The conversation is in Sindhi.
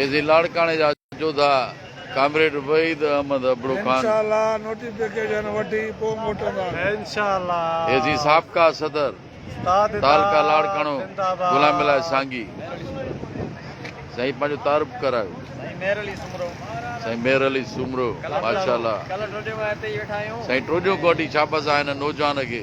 ايزي لاڙڪاڻي جا جوڌا ڪامريڊ وحيد احمد ابڙو خان، ايزي سابقا صدر تعلقه لاڙڪاڻو غلام الاهي سانگي سائين پنهنجو تعارف ڪرايو سائين مير علي سومرو ماشاءالله سائين ٽوڏيون ڪوٽي شابس آهن نوجوان کي